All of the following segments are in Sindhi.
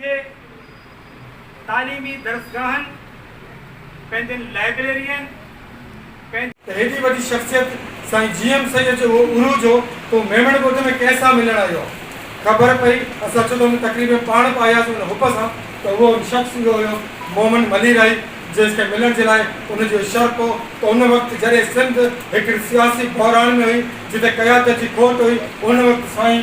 جي تعليمي درسگاهن، پنهنجين لائبريرين، پنهنجي. ته هيڏي وڏي شخصيت سائين جي ايم سيد جو اهو عروج هو تو ميمڻ ڳوٺ ۾ ڪنهن سان ملڻ آيو آهي. خبر پئي اسان اچو ته ان تقريب ۾ پاڻ به آياسين ان حب سان ته اهو شخص اهو هيو مومن مليرائي جنهن کي ملڻ جي لاء ان جو شرف هو ته ان وقت جڏهن سنڌ هڪڙي سياسي بحران ۾ هئي جتي قيادت جي کوٽ هئي ان وقت سائين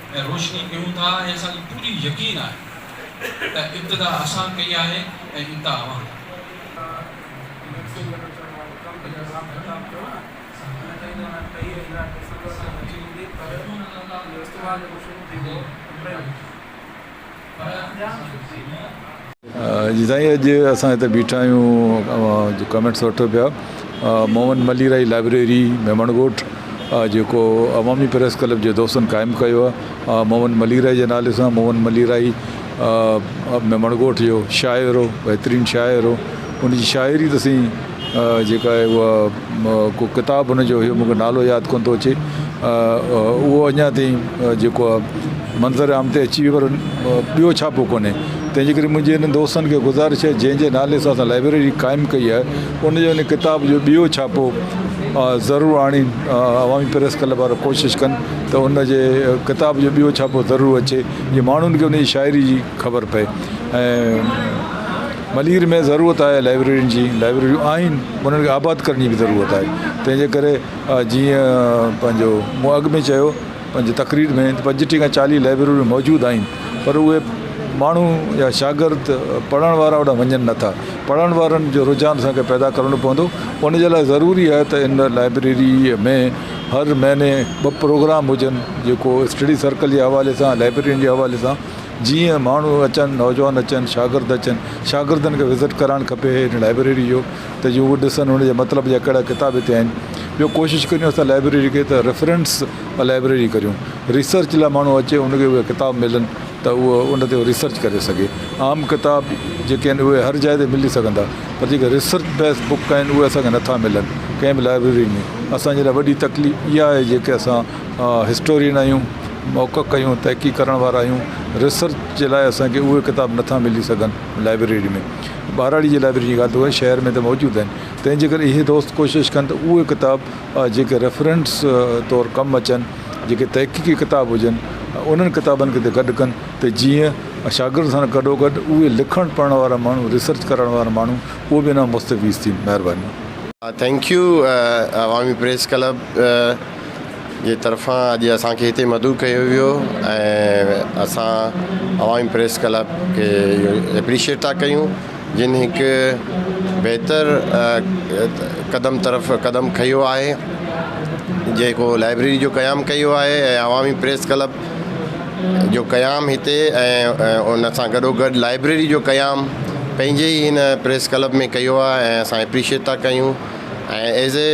۽ روشني ڪيون ٿا ۽ اسان کي پوري يقين آهي ته ابتدا اسان ڪئي آهي ۽ انتها اوهان ڪندو. جي سائين اڄ اسان هتي بيٺا آهيون جو ڪمينٽس وٺو پيا محمد ملي رائي لائبريري ميمڻ ڳوٺ جيڪو عوامي پريس ڪلب جي دوستن قائم ڪيو آهي محمد ملي رائي جي نالي سان محمد ملي رائي ميمڻ ڳوٺ جو شاعر هو بهترين شاعر هو ان جي شاعري تسين جيڪا آهي اها ڪو ڪتاب هن جو هيو مون کي نالو ياد ڪونه ٿو اچي اهو اڃا تائين جيڪو آهي منظر عام تي اچي پر ٻيو ڇاپو ڪونهي تنهن جي ڪري منهنجي هن دوستن کي گذارش آهي جنهن جي نالي سان اسان لائبريري قائم ڪئي آهي ان جو ان ڪتاب جو ٻيو ڇاپو ضرور آڻي عوامي پريس ڪلب وارا ڪوشش ڪن ته ان جي ڪتاب جو ٻيو ڇاپو ضرور اچي جي ماڻهن کي ان جي شاعري جي خبر پئي ۽ ملير ۾ ضرورت آهي لائبريرين جي لائبريريون آهن انهن کي آباد ڪرڻ جي به ضرورت آهي تنهنجي ڪري جيئن پنهنجو مون اڳ ۾ چيو پنهنجي تقرير ۾ پنجٽيهه کان چاليهه لائبريريون موجود آهن پر اهي ماڻهو يا شاگرد پڙهڻ وارا اوڏانهن وڃن نٿا پڙهڻ وارن جو رجحان اسان کي پيدا ڪرڻو پوندو ان جي لاء ضروري آهي ته ان لائبريري ۾ هر مهيني ٻه پروگرام هجن جيڪو اسٽڊي سرڪل جي حوالي سان لائبريرين جي حوالي سان جيئن ماڻهو اچن، نوجوان اچن، شاگرد اچن، شاگردن کي وزٽ ڪرائڻ کپي هن لائبريري جو ته جيئن هو ڏسن هن جا مطلب جا ڪهڙا ڪتاب هتي آهن. ٻيو ڪوشش ڪريون اسان لائبريري کي ته ريفرنس لائبريري ڪريون ريسرچ لاء ماڻهو اچي ان کي اهي ڪتاب ملن ته اهو ان تي ريسرچ ڪري سگهي. عام ڪتاب جيڪي آهن اهي هر جاء تي ملي سگهندا پر جيڪي ريسرچ بيس بڪ آهن اهي اسان کي نٿا ملن ڪنهن به لائبريري ۾ اسان جي لاء وڏي تڪليف اها آهي جيڪي اسان هسٽورين آهيون، محقق آهيون، تحقيق ڪرڻ وارا آهيون، ريسرچ جي لاء اسان کي اهي ڪتاب نٿا ملي سگهن لائبريري ۾ ٻهراڙي جي لائبريري جي ڳالهه ته اهي شهر ۾ ته موجود آهن تنهن جي ڪري اهي دوست ڪوشش ڪن ته اهي ڪتاب جيڪي ريفرنس طور ڪم اچن جيڪي تحقيقي ڪتاب هجن انهن ڪتابن کي گڏ ڪن ته جيئن شاگرد سان گڏو گڏ اهي لکڻ پڙهڻ وارا ماڻهو ريسرچ ڪرڻ وارا ماڻهو اهي به ان مان مستفيض ٿين مهرباني. Thank you Awami press club. جي طرفان اڄ اسان کي هتي مدعو ڪيو ويو ۽ اسان عوامي پريس ڪلب کي اپريشيٽ ٿا ڪيون جن هڪ بهتر قدم طرف قدم کنيو آهي جيڪو لائبريري جو قيام ڪيو آهي ۽ عوامي پريس ڪلب جو قيام هتي ۽ ان سان گڏو گڏ لائبريري جو قيام پنهنجي ئي هن پريس ڪلب ۾ ڪيو آهي ۽ اسان اپريشيٽ ٿا ڪيون ۽ ايز اي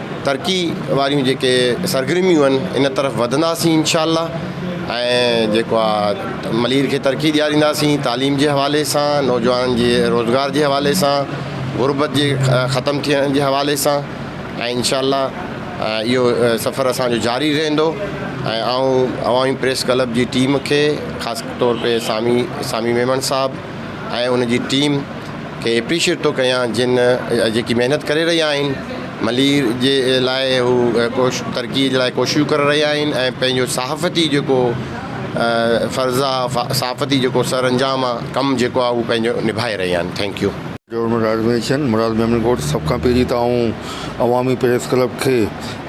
ترقي واريون جيڪي سرگرميون آهن ان طرف وڌنداسين انشاء الله ۽ جيڪو آهي ملير کي ترقي ڏيارينداسين تعليم جي حوالي سان نوجوانن جي روزگار جي حوالي سان غربت جي ختم ٿيڻ جي حوالي سان ۽ انشاء الله اهو سفر اسانجو جاري رهندو ۽ آئون عوامي پريس ڪلب جي ٽيم کي خاص طور تي سامي سامي ميمڻ صاحب ۽ ان جي ٽيم کي اپريشيٽ ٿو ڪيان جن جيڪي محنت ڪري رهيا آهن ملير جي لاء هو ڪوش ترقي جي لاء ڪوششون ڪري رهيا آهن ۽ پنهنجو صحافتي جيڪو فرض آهي صحافتي جيڪو سر انجام آهي ڪم جيڪو آهي اهو پنهنجو نڀائي رهيا آهن thank you. Government organization Murad Memon ڳوٺ سڀ کان پهرين ته آئون عوامي پريس ڪلب کي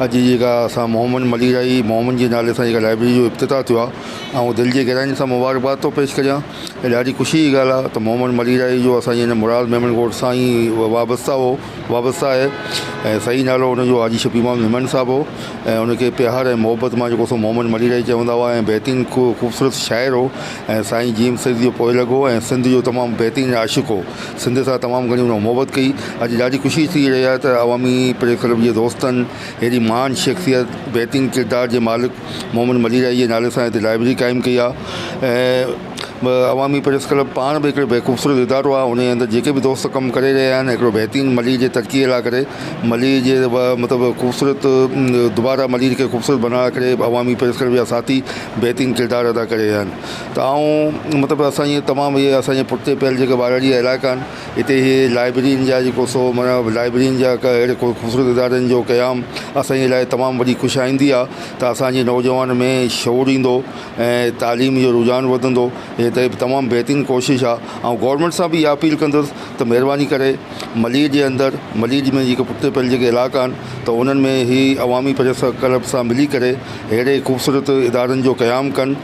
اڄ جي جيڪا اسان محمد مليرائي محمد جي نالي سان جيڪا لائبريري جو افتتاح ٿيو آهي آئون دل جي گهراين سان مبارڪباد ٿو پيش ڪريان هي ڏاڍي خوشيء جي ڳالهه آهي ته محمد مليرائي جو اسان جي هن مراد ميمڻ ڳوٺ سان ئي وابسته هو وابسته آهي ۽ صحيح نالو هن جو حاجي شفيع محمد ميمڻ صاحب هو ۽ هن کي پيار ۽ محبت مان جيڪو سو محمد مليرائي چوندا هئا ۽ بهترين خوبصورت شاعر هو ۽ سائين جيم سيد جو پوئلڳ هو ۽ سنڌ جو تمام بهترين عاشق هو سنڌ سان تمام گهڻي هن محبت ڪئي اڄ ڏاڍي خوشي ٿي رهي آهي ته عوامي پريس ڪلب جي دوستن هيڏي مهان شخصيت بهترين ڪردار جي مالڪ محمد مليرائي جي نالي سان هتي لائبريري قائم ڪئي آهي ۽ عوامي پريس ڪلب پاڻ به هڪڙو بي خوبصورت ادارو آهي انهي اندر جيڪي به دوست ڪم ڪري رهيا آهن هڪڙو بهترين ملير جي ترقي لاء ڪري ملير جي مطلب خوبصورت دوباره ملير کي خوبصورت بنائڻ لاء ڪري عوامي پريس ڪلب جا ساٿي بهترين ڪردار ادا ڪري رهيا آهن ته آئون مطلب اسان جي تمام اهي اسان جي پٺتي پيل جيڪا ٻاراڙي جا علائقا آهن هتي هي لائبررين جا جيڪو سو معنيٰ لائبررين جا اهڙي خوبصورت ادارن جو قيام اسان جي لاء تمام وڏي خوش آئندي آهي ته اسان جي نوجوان ۾ شعور ايندو ۽ تعليم جو رجحان وڌندو هي ته تمام بهترين ڪوشش آهي آئون گورنمينٽ سان به اها اپيل ڪندس ته مهرباني ڪري ملير جي اندر ملير ۾ جيڪي پٺتي پيل جيڪي علائقا آهن ته انهن ۾ هي عوامي پريس ڪلب سان ملي ڪري اهڙي خوبصورت ادارن جو قيام ڪن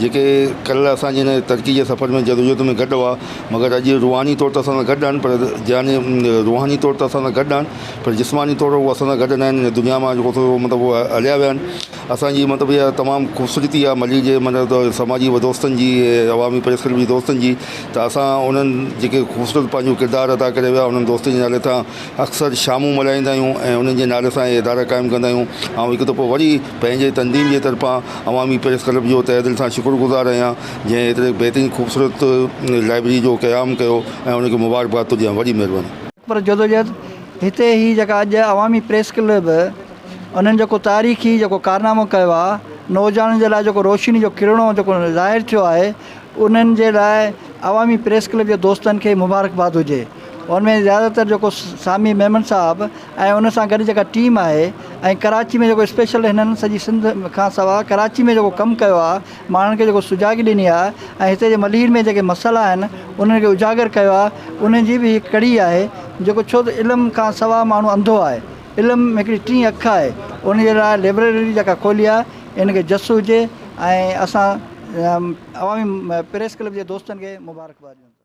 جيڪي ڪلهه اسان جي هن ترقي جي سفر ۾ جدوجهد ۾ گڏ هئا، مگر اڄ روحاني طور ته اسان سان گڏ آهن پر يعني روحاني طور ته اسان سان گڏ آهن پر جسماني طور هو اسان سان گڏ ناهن هن دنيا مان جو ڪو مطلب هو هليا ويا آهن اسان جي مطلب اها تمام خوبصورتي آهي ملير جي مطلب ته سماجي و دوستن جي عوامي پريس ڪلب جي دوستن جي ته اسان انهن جيڪي خوبصورت پنهنجو ڪردار ادا ڪري ويا انهن دوستن جي نالي تان اڪثر شامون ملهائيندا آهيون ۽ انهن جي نالي سان اهي ادارا قائم ڪندا آهيون آئون هڪ دفعو وري پنهنجي تنظيم جي طرفان عوامي پريس ڪلب جو تهه دل سان شڪر گذار آهيان جنهن ايتري بهترين خوبصورت لائبريري جو قيام ڪيو ۽ ان کي مبارڪباد ٿو ڏيان وڏي مهرباني. پر جدوجهد هتي هي جيڪا اڄ عوامي پريس ڪلب انهن جيڪو تاريخي جيڪو ڪارنامو ڪيو آهي نوجوانن جي لاء جيڪو روشني جو ڪرڻو جيڪو ظاهر ٿيو آهي انهن جي لاء عوامي پريس ڪلب جي دوستن کي مبارڪباد هجي ان ۾ زياده تر جيڪو سامي ميمڻ صاحب ۽ ان سان گڏ جيڪا ٽيم آهي ۽ ڪراچي ۾ جيڪو اسپيشل هنن سڄي سنڌ کان سواء ڪراچي ۾ جيڪو ڪم ڪيو آهي ماڻهن کي جيڪو سجاڳي ڏني آهي ۽ هتي جي ملير ۾ جيڪي مسئلا آهن انهن کي اجاگر ڪيو آهي انهن جي به هڪ ڪڙي آهي جيڪو ڇو ته علم کان سواء ماڻهو انڌو آهي علم هڪڙي ٽين اک آهي ان جي لاء لئبرري جيڪا کولي آهي ان کي جس هجي ۽ اسان عوامي پريس ڪلب جي دوستن کي مبارڪباد ڏيون ٿا